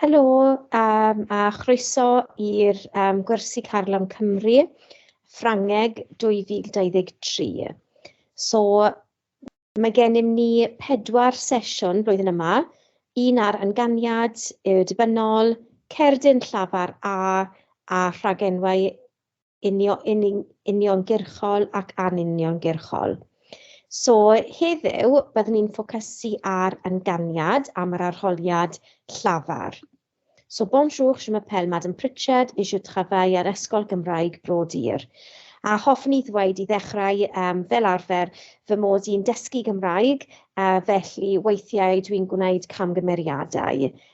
Helo um, a chroeso i'r um, gwersi Carlam Cymru, Ffrangeg 2023. So, mae gennym ni pedwar sesiwn blwyddyn yma, un ar anganiad, y dibynnol, cerdyn llafar A a rhagenwau uniongyrchol ac anuniongyrchol. So heddiw byddwn ni'n ffocysu ar yn ganiad am yr arholiad llafar. So bonjour, je m'appelle Madame Pritchard et je travaille ar Ysgol Gymraeg Bro Dur. A hoffwn i ddweud i ddechrau um, fel arfer fy mod i'n dysgu Gymraeg, uh, felly weithiau dwi'n gwneud camgymeriadau.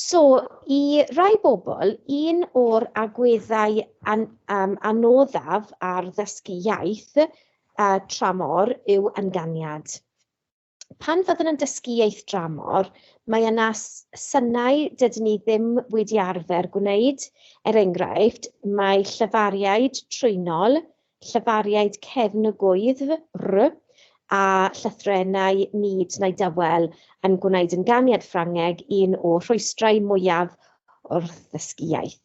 So, i rai bobl, un o'r agweddau an, um, anoddaf ar ddysgu iaith uh, tramor yw ynganiad. Pan fyddwn yn dysgu iaith dramor, mae yna synau dydyn ni ddim wedi arfer gwneud. Er enghraifft, mae llyfariaid trwynol, llefariaid cefn y gwyddf, rr, a llythrennau nid neu dawel yn gwneud ynganiad Ffrangeg un o rhwystrau mwyaf wrth ddysgu iaith.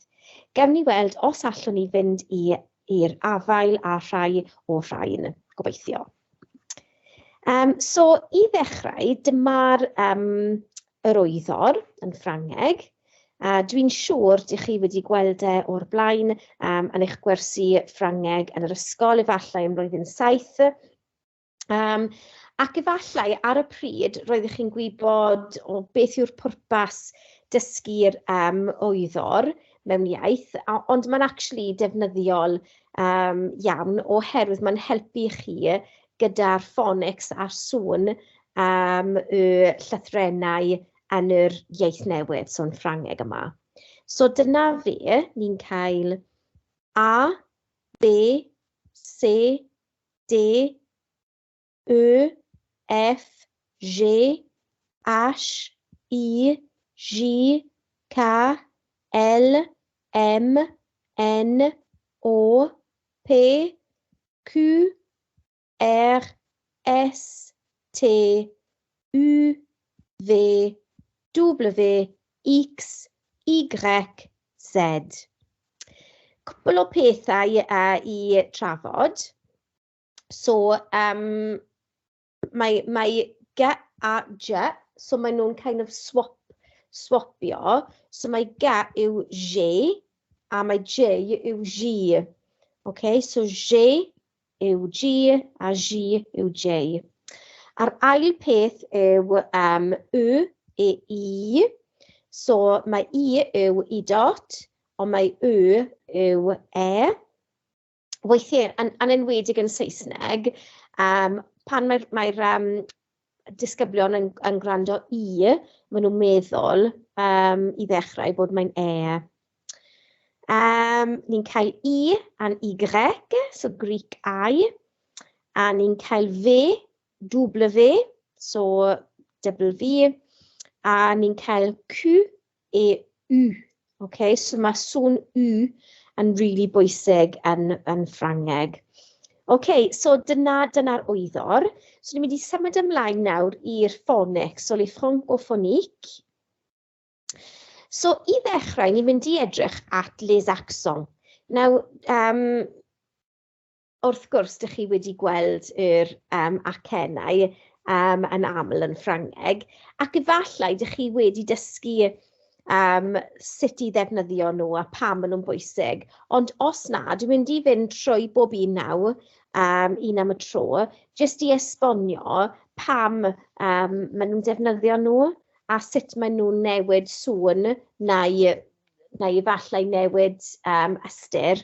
Gewn ni weld os allwn ni fynd i'r afael â rhai o'r rhain. Gobeithio. Um, so, i ddechrau, dyma'r um, yr oeddor yn Ffrangeg. A dwi'n siŵr dych chi wedi gweld e o'r blaen um, yn eich gwersi Ffrangeg yn yr ysgol, efallai ym mlwyddyn saith. Um, ac efallai ar y pryd roeddech chi'n gwybod o beth yw'r pwrpas dysgu'r um, oeddor, mewn iaith, ond mae'n actually defnyddiol um, iawn oherwydd mae'n helpu chi gyda'r ffonics a'r sŵn um, y llythrenau yn yr iaith newydd, so'n Ffrangeg yma. So dyna fe, ni'n cael A, B, C, D, Y, F, G, H, I, J, K, L, M, N, O, P, Q, R, S, T, U, V, W, X, Y, Z. Cwpl o pethau i trafod. So, um, mae, mae ge a je, so maen nhw'n kind of swap, swapio. So mae ge yw je, a mae je yw ji. Okay, so je yw ji a ji yw je. A'r ail peth yw um, y, e, i. So mae i yw i dot, ond mae y yw e. weithiau, yn, yn enwedig yn Saesneg, um, pan mae'r mae um, disgyblion yn, yn gwrando i, maen nhw'n meddwl um, i ddechrau bod mae'n e. Um, ni'n cael i a'n i grec, so Greek I, a ni'n cael fe, double fe, so double V, a ni'n cael Q, E, u. Ok, so mae sŵn u yn really bwysig yn, yn Ffrangeg. Ok, so dyna, dyna'r wyddor. So ni'n mynd i symud ymlaen nawr i'r ffonic, so le ffonic o ffonic. So i ddechrau, ni'n mynd i edrych at les accents. Nawr, um, Wrth gwrs, dych chi wedi gweld yr um, acennau um, yn aml yn Ffrangeg, ac efallai dych chi wedi dysgu um, sut i ddefnyddio nhw a pam maen nhw'n bwysig. Ond os na, dwi'n mynd i fynd trwy bob un naw, um, un am y tro, jyst i esbonio pam um, maen nhw'n defnyddio nhw a sut maen nhw'n newid sŵn neu, neu efallai newid um, ystyr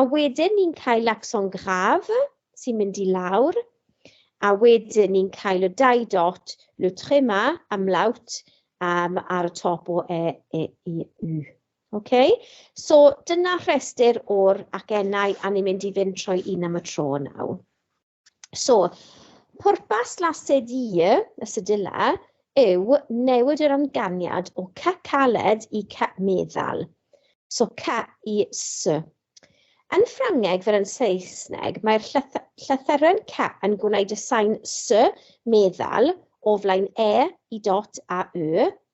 A wedyn ni'n cael accent grave sy'n mynd i lawr, a wedyn ni'n cael y dau dot, le tréma, amlawt, um, ar y top o e, e, i, u. Okay? So dyna rhestr o'r acennau a ni'n mynd i fynd trwy un am y tro nawr. So, pwrpas La Cedille, y Sedilla, yw newid yr amganiad o C caled i C meddal. So, C i S. Yn Ffrangeg fel yn Saesneg, mae'r llythyren C yn gwneud y sain S meddal o flaen E i dot a Y,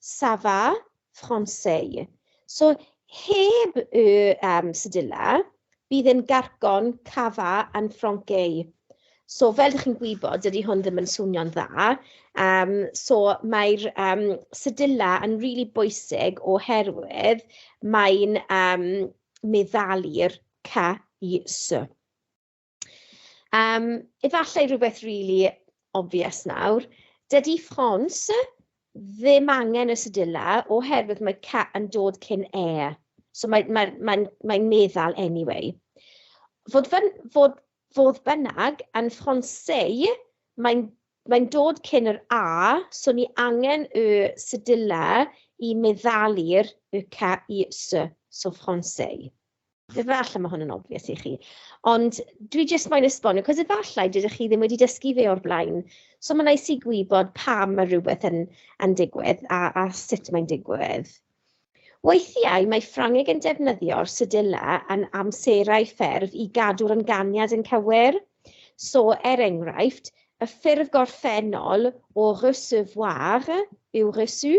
Ça va, Français. So, heb y um, sydilla, bydd yn garcon ça va yn Ffrancais. So, fel ydych chi'n gwybod, dydy hwn ddim yn swnio'n dda. Um, so, mae'r um, sydilla yn rili really bwysig oherwydd mae'n um, meddalu'r ca i sy. Um, efallai rhywbeth really obvious nawr. Dydy ffons ddim angen y sydula oherwydd mae ca yn dod cyn e. So mae'n mae, mae, mae, mae meddal anyway. Fod, fyn, fod, fod bynnag yn ffonseu, mae'n mae'n dod cyn yr a, so ni angen y sydula i meddalu'r y ca i s, so ffonseu. Efallai mae hwn yn obvious i chi, ond dwi jyst moyn esbonio, cos efallai dydych chi ddim wedi dysgu fe o'r blaen. So mae'n neis i gwybod pam mae rhywbeth yn, yn digwydd a, a sut mae'n digwydd. Weithiau mae Ffrangeg yn defnyddio'r sydilla yn amserau ffurf i gadw'r ynganiad yn cywir. So, er enghraifft, y ffurf gorffennol o recevoir yw reçu,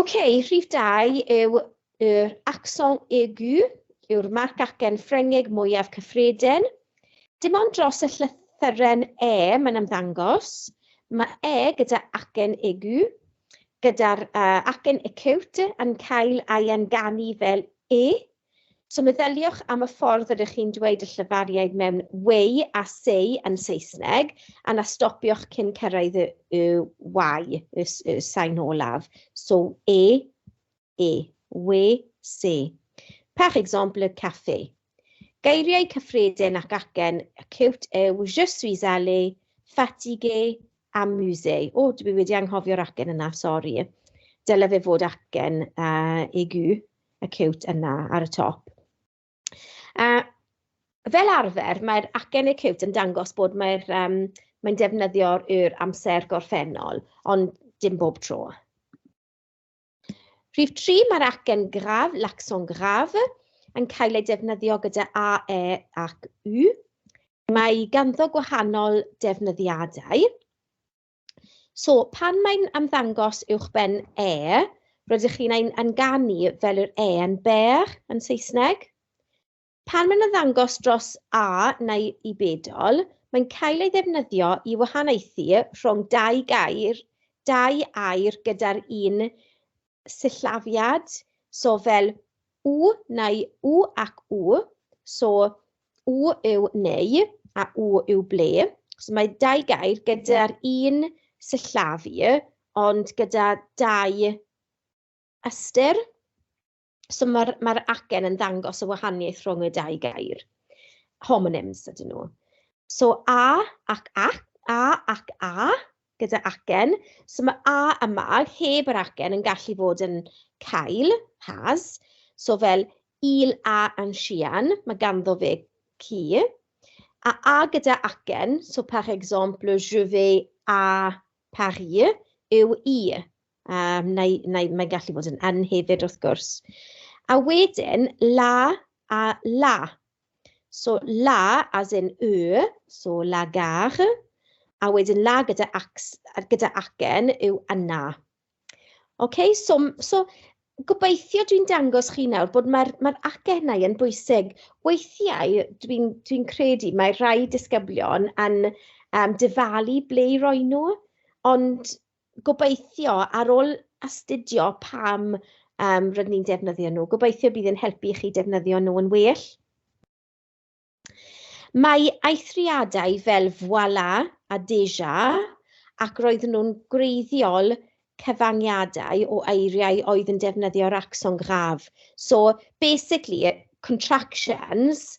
Ok, rhif dau yw yr accent aigu, yw'r marc acen Ffrengig mwyaf cyffredin. Dim ond dros y llythyren e mae'n ymddangos. Mae e gyda acen aigu, gyda'r uh, acen acute yn cael ei anganu fel e So meddyliwch am y ffordd rydych chi'n dweud y llyfariaid mewn way a say yn Saesneg, a na stopiwch cyn cyrraedd y, y y, y, y sain olaf. So e, e, we, se. Par exemple, le café. Geiriau cyffredin ac acen cute yw je suis allé, fatigué, amusé. O, dwi wedi anghofio'r acen yna, sori. Dyle fe fod acen uh, aigu. y ciwt yna ar y top. A fel arfer, mae'r acen y ciwt yn dangos bod mae'r, um, mae'n defnyddio'r yw'r amser gorffennol, ond dim bob tro. Rhif 3, mae'r acen graf, l'accent graf, yn cael ei defnyddio gyda A, E ac U. Mae ganddo gwahanol defnyddiadau. So, pan mae'n ymddangos uwch ben e, rydych chi'n ein anganu fel yr e yn bear yn Saesneg. Pan mae'n ymddangos dros a neu i bedol, mae'n cael ei ddefnyddio i wahaniaethu rhwng dau gair, dau air gyda'r un sillafiad, so fel u neu u ac u, so u yw neu a u yw ble. So mae dau gair gyda'r un sillafu, ond gyda dau ystyr. So mae'r ma acen yn ddangos y wahaniaeth rhwng y dau gair. Homonyms ydyn nhw. So a ac ac, a ac a, gyda acen, so mae a a ma heb yr acen yn gallu bod yn cael, has, so fel il a yn sian, mae ganddo fe ci, a a gyda acen, so par exemple, je vais a Paris, yw i, um, neu, neu mae'n gallu bod yn yn hefyd wrth gwrs. A wedyn, la a la, So la as in y, so la gare, a wedyn la gyda, ac, gyda acen yw yna. OK, so, so gobeithio dwi'n dangos chi nawr bod mae'r mae acennau yn bwysig. Weithiau dwi'n dwi, credu mae rhai disgyblion yn um, dyfalu ble i roi nhw, ond gobeithio ar ôl astudio pam um, rydyn ni'n defnyddio nhw, gobeithio bydd yn helpu i chi defnyddio nhw yn well. Mae eithriadau fel voilà a déjà ac roedden nhw'n gwreiddiol cyfangiadau o eiriau oedd yn defnyddio'r accent grave. So, basically, contractions,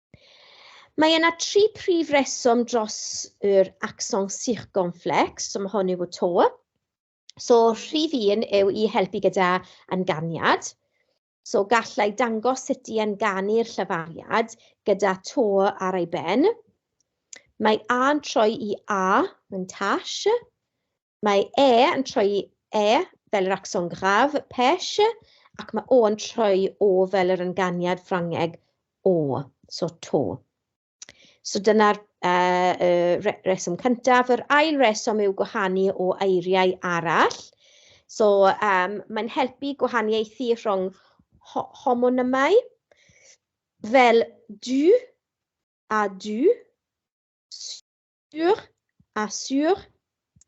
Mae yna tri prif reswm dros yr axon circonflex, so mae hon yw y to. So rhif un yw i helpu gyda ynganiad. So gallai dangos sut i enganu'r llafariad gyda to ar ei ben. Mae A yn troi i A yn tash. Mae e yn troi e fel yr accent grave, pêche, ac mae o yn troi o fel yr ynganiad Ffrangeg o, so to. So dyna'r uh, uh, reswm cyntaf. Yr ail reswm yw gwahanu o eiriau arall. So um, mae'n helpu gwahaniaethu rhwng ho homonymau fel du a du, Sur a sur,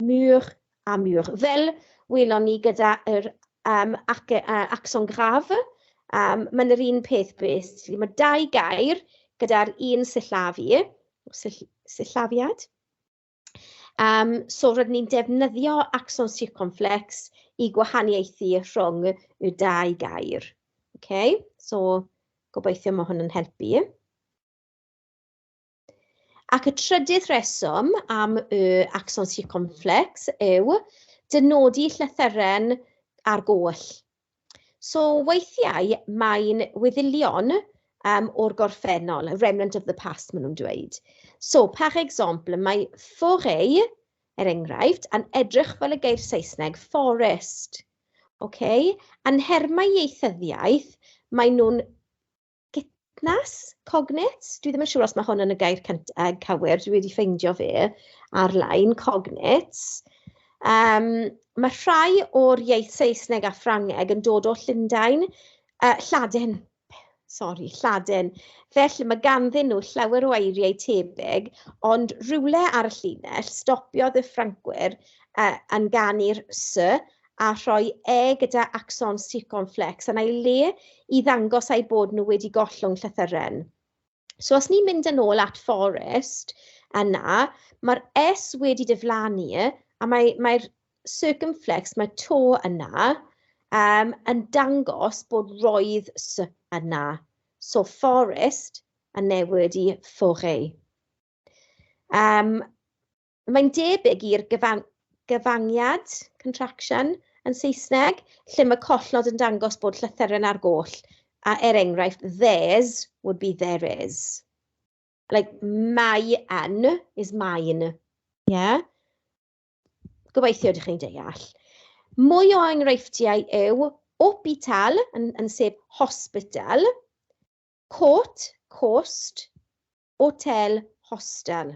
mur a mur. Fel welon ni gyda yr um, ac, uh, accent grave, um, mae'n yr un peth beth. Mae dau gair gyda'r un sillafu, sill, sillafiad. Um, so rydyn ni'n defnyddio accent circumflex i gwahaniaethu rhwng y dau gair. Okay? So gobeithio mae hwn yn helpu. Ac y trydydd rheswm am y axon circumflex yw dynodi llythyren ar goll. So weithiau mae'n weddillion um, o'r gorffennol, a remnant of the past maen nhw'n dweud. So, par exemple, mae forêt, er enghraifft, yn edrych fel y geir Saesneg forest. Okay? Yn nhermau ieithyddiaeth, maen nhw'n Gitnas, Cognit, dwi ddim yn siŵr os mae hwn yn y gair cynt, uh, cywir, dwi wedi ffeindio fe ar-lein, Cognit. Um, mae rhai o'r iaith Saesneg a Ffrangeg yn dod o Llundain, uh, Lladin, sori, Lladin. Felly mae ganddyn nhw llawer o eiriau tebyg, ond rhywle ar y llinell stopiodd y Ffrancwyr uh, yn ganu'r sy a rhoi e gyda axons circonflex yn ei le i ddangos eu bod nhw wedi gollwng llythyren. So os ni'n mynd yn ôl at forest yna, mae'r S wedi diflannu a mae, mae'r circumflex, mae to yna, um, yn dangos bod roedd s yna. So forest yn newid i forêt. Um, Mae'n debyg i'r gyfan- gyfangiad, contraction, yn Saesneg, lle mae collnod yn dangos bod llythyren ar goll, a er enghraifft, there's would be there is. Like, mae yn is mine. Yeah? Gobeithio ydych chi'n deall. Mwy o enghreifftiau yw hopital, yn, yn sef hospital, court, coast, hotel, hostel.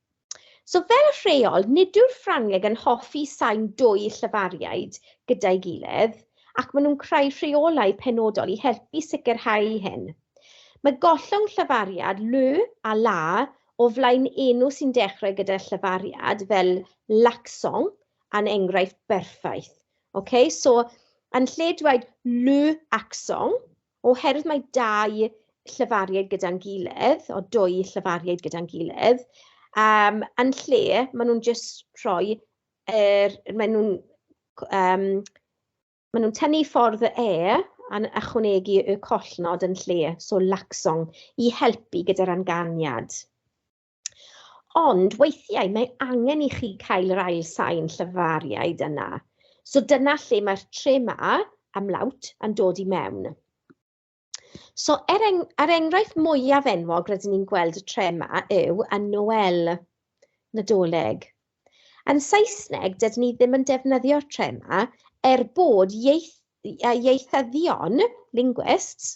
So fel rheol, nid yw'r Ffrangeg yn hoffi sain dwy llefariaid gyda'i gilydd, ac maen nhw'n creu rheolau penodol i helpu sicrhau hyn. Mae gollwng llefariad ly a la o flaen enw sy'n dechrau gyda llefariad, fel Laksong, yn enghraifft berffaith. Okay? So, yn lle dweud ly aksong, Oherwydd mae dau llefariad gyda'n gilydd, o dwy llefariad gyda'n gilydd, um, yn lle maen nhw'n just rhoi, er, maen nhw'n um, maen nhw'n tynnu ffordd y e a'n ychwanegu y collnod yn lle, so laxong, i helpu gyda'r anganiad. Ond weithiau mae angen i chi cael yr ail sain llyfariaid yna. So dyna lle mae'r tre ma am lawt yn dod i mewn. So er eng er enghraifft mwyaf enwog rydyn ni'n gweld y tre ma yw y Noel, Nadolig. Yn Saesneg, dydyn ni ddim yn defnyddio'r tre ma er bod ieith, ieithyddion, linguists,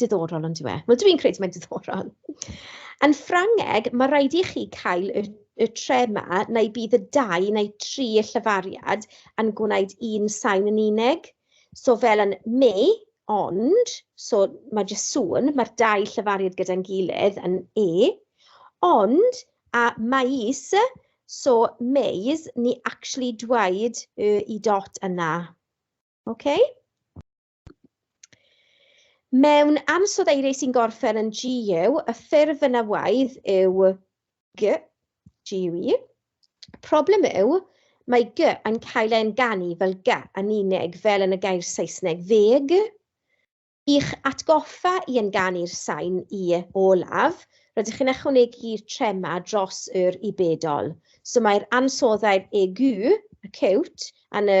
Diddorol, yn dyw e? Wel, dwi'n credu mae'n diddorol. Yn Ffrangeg, mae'n rhaid i chi cael y y tre 'ma, neu bydd y dau neu tri y llyfariad yn gwneud un sain yn unig. So fel yn me, ond, so mae jyst sŵn, mae'r dau llyfariad gyda'n gilydd yn e, ond, a maes, so maes, ni actually dweud y i dot yna. OK? Mewn ansoddeiriau sy'n gorffen yn GU, y ffurf yn awaidd yw G, GUE. Problem yw, mae G yn cael ei enganu fel G yn unig, fel yn y gair Saesneg ddeg. I'ch atgoffa i enganu'r sain i olaf, rydych chi'n ychwanegu'r trema dros yr u bedol. So mae'r ansoddau'r EQ, acute, yn y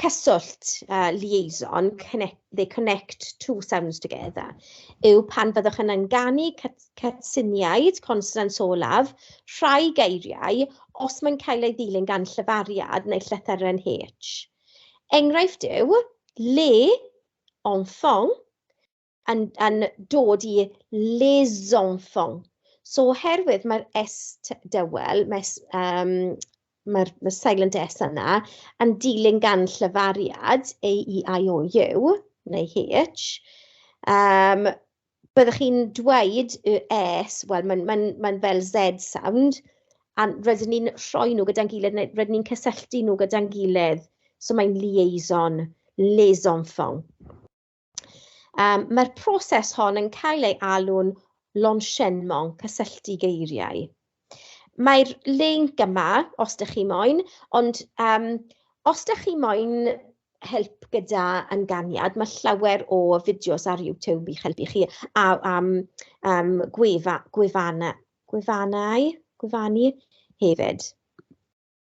cyswllt, uh, liaison, connect, they connect two sounds together, yw pan fyddwch yn ynganu cytsyniaid, consonants olaf, rhai geiriau, os mae'n cael ei ddilyn gan llyfariad neu llythyren H. Enghraifft yw, le, enfant, yn, yn dod i les enfants. So oherwydd mae'r S dywel, mae'r um, mae ma silent S yna, yn dilyn gan llyfariad A, E, I, O, U, neu H, um, byddwch chi'n dweud y S, wel mae'n ma ma fel Z sound, a rydyn ni'n rhoi nhw gyda'n gilydd, neu rydyn ni'n cysylltu nhw gyda'n gilydd. So mae'n liaison, les enfants. Um, Mae'r proses hon yn cael ei alw'n lonsienmon cysylltu geiriau. Mae'r link yma, os ydych chi moyn, ond um, os ydych chi moyn help gyda ynganiad, mae llawer o fideos ar YouTube i'ch helpu chi a, am um, gwefa, gwefana, gwefannau, gwefanu hefyd.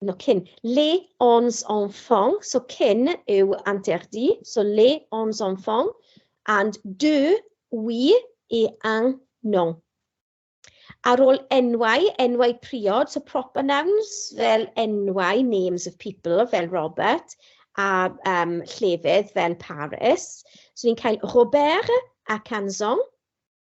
no cyn, les ons enfants, so cyn yw interdit, so les ons enfants, and de, oui, et un, non. Ar ôl enwau, enwau priod, so proper nouns, fel enwau, names of people, fel Robert, a um, llefydd fel Paris. So ni'n cael Robert a Canson,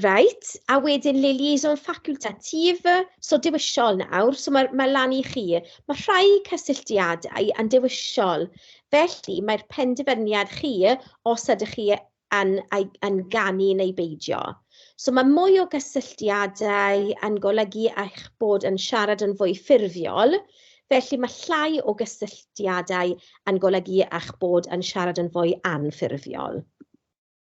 Reit, a wedyn liaison facultatif, so dewisol nawr, so mae ma lan i chi. Mae rhai cysylltiadau yn dewisol, felly mae'r penderfyniad chi os ydych chi yn, yn ganu neu beidio. So mae mwy o gysylltiadau yn golygu eich bod yn siarad yn fwy ffurfiol, felly mae llai o gysylltiadau yn golygu eich bod yn siarad yn fwy anffurfiol.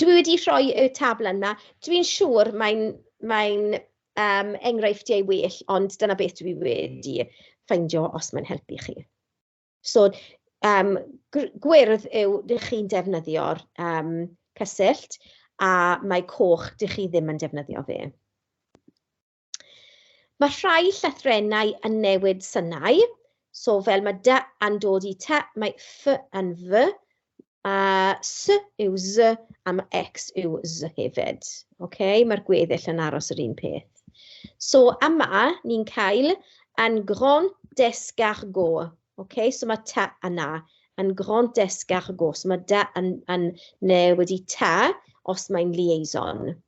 Dwi wedi rhoi y tabl yna, dwi'n siŵr mae'n mae'n yym enghreifftiau well, ond dyna beth dwi wedi ffeindio, os mae'n helpu chi. So yym gw- gwyrdd yw dych chi'n defnyddio'r yym cyswllt, a mae coch dych chi ddim yn defnyddio fe. Mae rhai llythrennau yn newid synau, so fel mae dy yn dod i ta, mae f yn f, a s yw z, a mae x yw z hefyd. Okay? Mae'r gweddill yn aros yr un peth. So yma, ni'n cael yn grand descargot. Okay? So mae ta yna yn grand descargot. So mae da yn, yn newid i ta os mae'n liaison.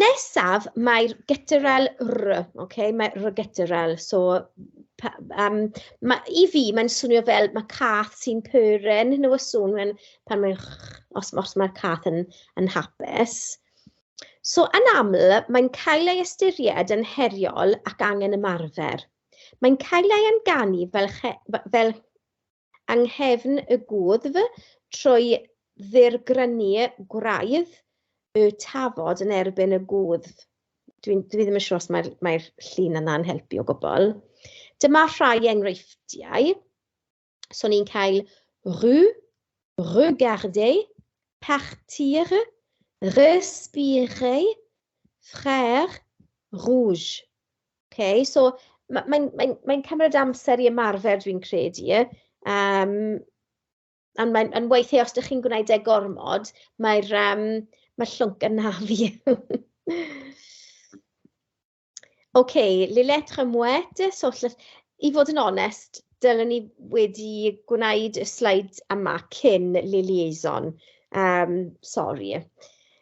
Nesaf, mae'r gytterel r, okay? mae r gytterel, so um, ma, i fi mae'n swnio fel mae cath sy'n pyren, hyn o sŵn mae'n, pan mae'n, os, os mae'r cath yn, yn hapus. So yn aml, mae'n cael ei ystyried yn heriol ac angen ymarfer. Mae'n cael ei amganu fel, che, fel yng nghefn y gwddf trwy ddirgrynu gwraidd y tafod yn erbyn y gwddf. Dwi, dwi ddim yn siŵr os mae'r mae llun yna'n helpu o gwbl. Dyma rhai enghreifftiau. So ni'n cael rue, regarder, partir, respirer, frère, rouge. Ok, so mae'n mae, mae, mae cymryd amser i ymarfer, dwi'n credu. Um, ond mae'n yn weithiau, os ydych chi'n gwneud e gormod, mae'r um, mae llwnc yn na fi. OK, Lillet Remwet, so i fod yn onest, dylen ni wedi gwneud y sleid yma cyn Liliaison. Um, sorry.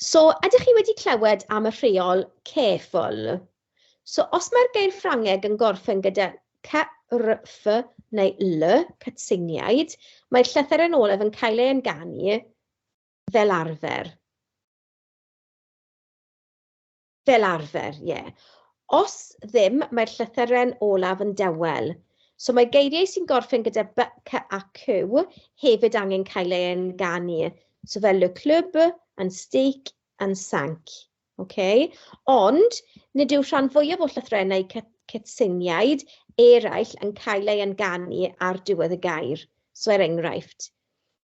So, ydych chi wedi clywed am y rheol careful? So, os mae'r geir Ffrangeg yn gorffen gyda CRF neu L, cytseiniaid, mae'r llythyr yn olaf yn cael ei enganu fel arfer. Fel arfer, ie. Os ddim, mae'r llythyren olaf yn dawel. So mae geiriau sy'n gorffen gyda by, cy a cw hefyd angen cael eu ynganu. So fel le club, and steak, and sank. Okay? Ond, nid yw rhan fwyaf o llythrennau cy, cytseiniaid eraill yn cael eu ynganu ar diwedd y gair. So er enghraifft,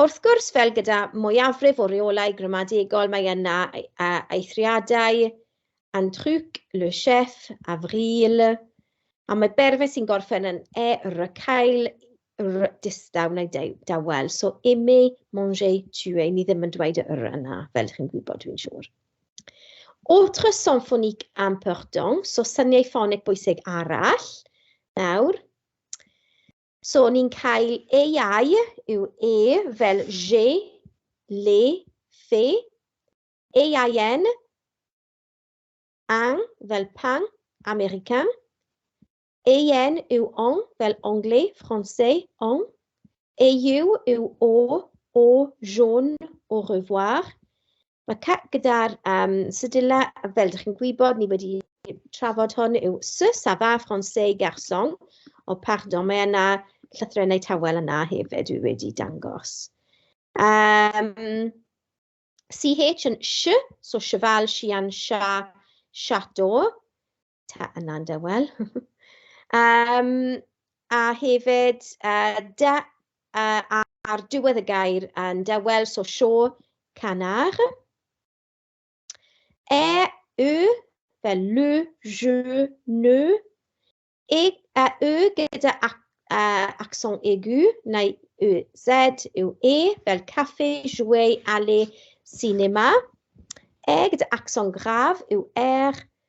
Wrth gwrs, fel gyda mwyafrif o reolau gramadegol, mae yna eithriadau, un truc, le chef, avril, a mae berfau sy'n gorffen yn e, r, cael, r, distaw neu dawel. So, aimer, manger, tuer, ni ddim yn dweud y r yna, fel ydych chi'n gwybod, dwi'n siŵr. Autre symphonique important, so syniau ffonig bwysig arall, nawr, So ni'n cael ei yw e fel je, le, fe, ein, ang fel pan, American, ein yw on fel anglais, français, on, eu yw o, o, jaune, au revoir, Mae ca- gyda'r yym sedilau, fel dach chi'n gwybod, ni wedi trafod hwn yw ce ça va français garçon, o pardon, mae yna llythrennau tawel yna hefyd dwi wedi dangos. Um, CH yn sh, so cheval, sian, cha, chateau. ta yna yn dawel. um, a hefyd, uh, da, uh, ar diwedd y gair yn dawel, so sio canar. E, y, fel lw, jw, nw. E, a, y gyda ac, uh, accent aigu, neu y, z, yw e, fel café, jouer, aller, cinema. E gyda accent grave yw er,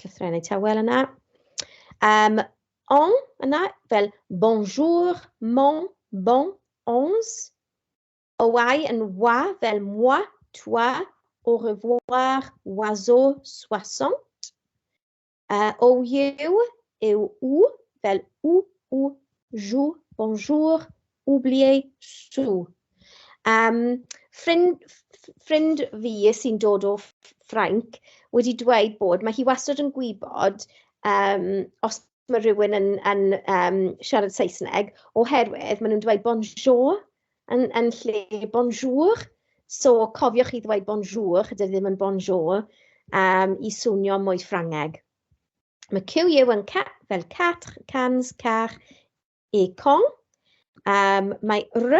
Llythrennau tawel yna. Um, on yna, fel bonjour, mon, bon, ons. Owae yn wa, fel moi, toi, au revoir, oiseau, soixante. Uh, o yw, yw u, fel u, u, jou, bonjour, Oublier Sue. Um, ffrind, ffrind fi sy'n dod o Ffrainc wedi dweud bod mae hi wastad yn gwybod um, os mae rhywun yn, yn um, siarad Saesneg oherwydd maen nhw'n dweud bonjour yn, yn lle bonjour. So cofiwch chi ddweud bonjour, dydy ddim yn bonjour, um, i swnio mwy Ffrangeg. Mae QU yn ca fel 4 cans car e cong. Um, mae r,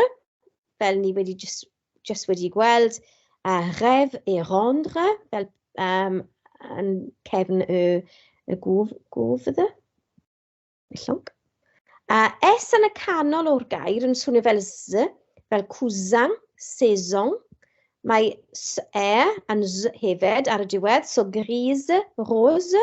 fel ni wedi just, just wedi gweld, a ref e rendre, fel um, yn cefn y, y gwf, gwf ydy. Llong. A S yn y canol o'r gair yn swnio fel Z, fel cousin, saison. Mae S e yn Z hefyd ar y diwedd, so grise, rose.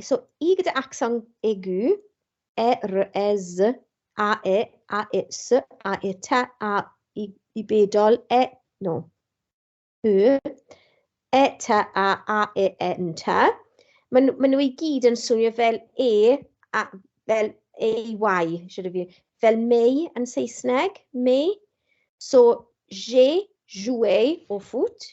So, i gyda accent aigu, e, r, e, z, a, e, a, e, s, a, e, t, a, i, i bedol, e, no, y, e, t, a, a, e, e, n, t. Maen ma nhw i gyd yn swnio fel e, a, fel e, y, siarad fi, fel mei yn Saesneg, mei. So, je, jouer, o foot,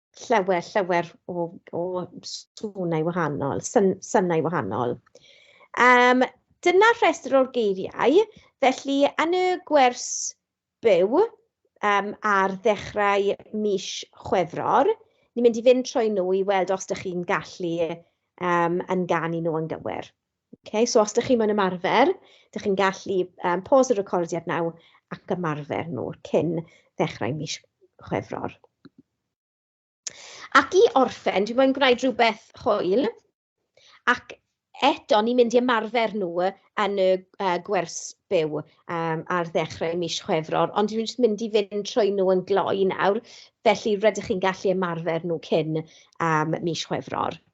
llawer, llawer o, o swnau wahanol, syn, synau wahanol. Um, dyna rhestr o'r geiriau, felly yn y gwers byw um, ar ddechrau mis Chwefror, ni'n mynd i fynd trwy nhw i weld os ydych chi'n gallu um, yn ganu nhw yn gywir. Okay, so os ydych chi mewn ymarfer, ydych chi'n gallu um, pause y recordiad naw ac ymarfer nhw cyn ddechrau mis chwefror. Ac i orffen, dwi'n mwyn gwneud rhywbeth hwyl, ac eto ni'n mynd i ymarfer nhw yn y uh, gwers byw um, ar ddechrau mis chwefror, ond dwi'n just mynd i fynd trwy nhw yn gloi nawr, felly rydych chi'n gallu ymarfer nhw cyn um, mis chwefror.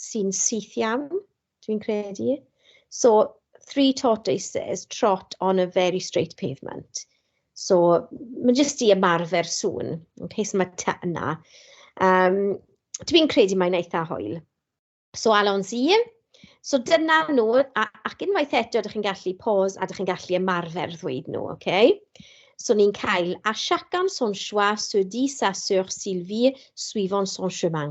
sy'n syth iawn, dwi'n credu. So, three tortoises trot on a very straight pavement. So, mae jyst i ymarfer sŵn, yn case mae ta yna. Um, dwi'n credu mae'n eitha hoel. So, Alon's i. So, dyna nhw, a, ac unwaith eto, ydych chi'n gallu pause a ydych chi'n gallu ymarfer ddweud nhw, oce? Okay? So ni'n cael à chacun son choix, se dit sa sœur Sylvie, suivant son chemin.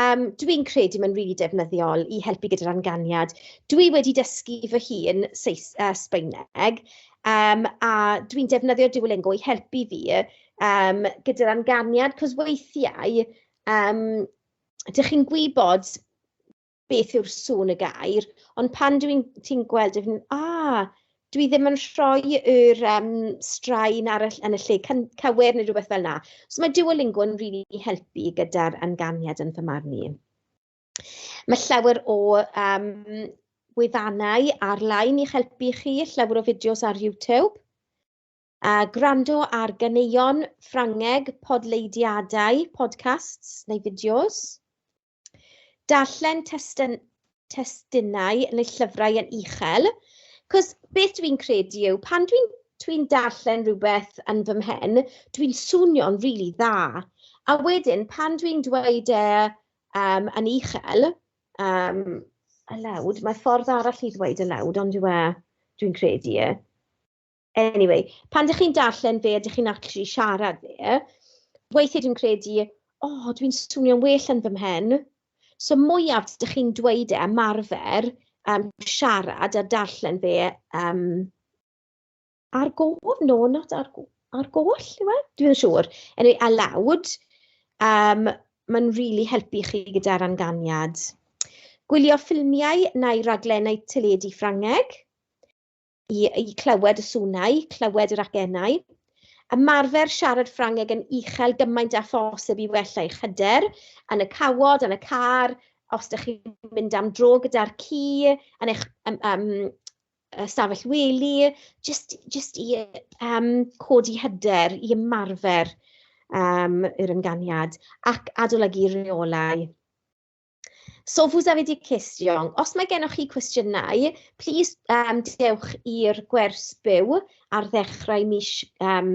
Yym dwi'n credu mae'n rili defnyddiol i helpu gyda'r amganiad. Dwi wedi dysgu fy hun Seis- yy Sbaeneg, yym a dwi'n defnyddio Duolingo i helpu fi yym gyda'r amganiad, 'cos weithiau yym dach chi'n gwybod beth yw'r sŵn y gair, ond pan dwi'n... ti'n gweld e, "a!" dwi ddim yn rhoi yr yym straen ar y ll- yn y lle cyn- cywir neu rywbeth fel 'na. So ma' Duolingo yn rili helpu gyda'r ynganiad yn fy marn i. Ma' llawer o yym wefannau ar-lein i'ch helpu chi, llawer o fideos ar YouTube, a gwrando ar ganeuon Ffrangeg, podleidiadau, podcasts neu fideos. darllen testyn, testunau neu llyfrau yn uchel, cos beth dwi'n credu yw, pan dwi'n dwi darllen rhywbeth yn fy mhen, dwi'n swnio'n rili really dda. A wedyn, pan dwi'n dweud e um, yn uchel, um, y lawd, mae ffordd arall i ddweud y lawd, ond yw e, dwi'n credu e. anyway, pan dych chi'n darllen fe a dych chi'n actually siarad fe, weithiau dwi'n credu, o, oh, dwi'n swnio'n well yn fy mhen. So mwyaf dych chi'n dweud e, marfer, um, siarad a darllen fe um, ar gof, no, not ar, ar goll, yw e? Dwi'n siŵr. Anyway, a lawd, um, mae'n rili really helpu chi gyda'r anganiad. Gwylio ffilmiau neu raglenau teledu Ffrangeg. i, i clywed y swnau, clywed yr acennau, ymarfer siarad Ffrangeg yn uchel gymaint â phosib i wella eich hyder, yn y cawod, yn y car, os ydych chi'n mynd am dro gyda'r ci, yn eich um, um, stafell wely, jyst, jyst i um, codi hyder, i ymarfer um, yr ymganiad ac adolygu rheolau. So vous avez des questions? Os mae gennych chi cwestiynau, plis um, dewch i'r gwers byw ar ddechrau mis, um,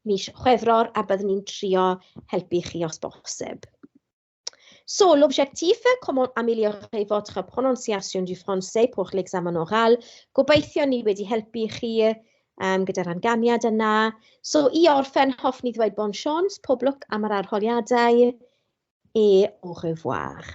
mis Chwefror a byddwn ni'n trio helpu chi os bosib. So, l'objectif, comment améliorer votre prononciation du français pour l'examen oral. Gobeithio ni wedi helpu chi um, gyda'r amganiad yna. So i orffen, hoff ni ddweud bon sions, pob lwc am yr arholiadau, e au revoir.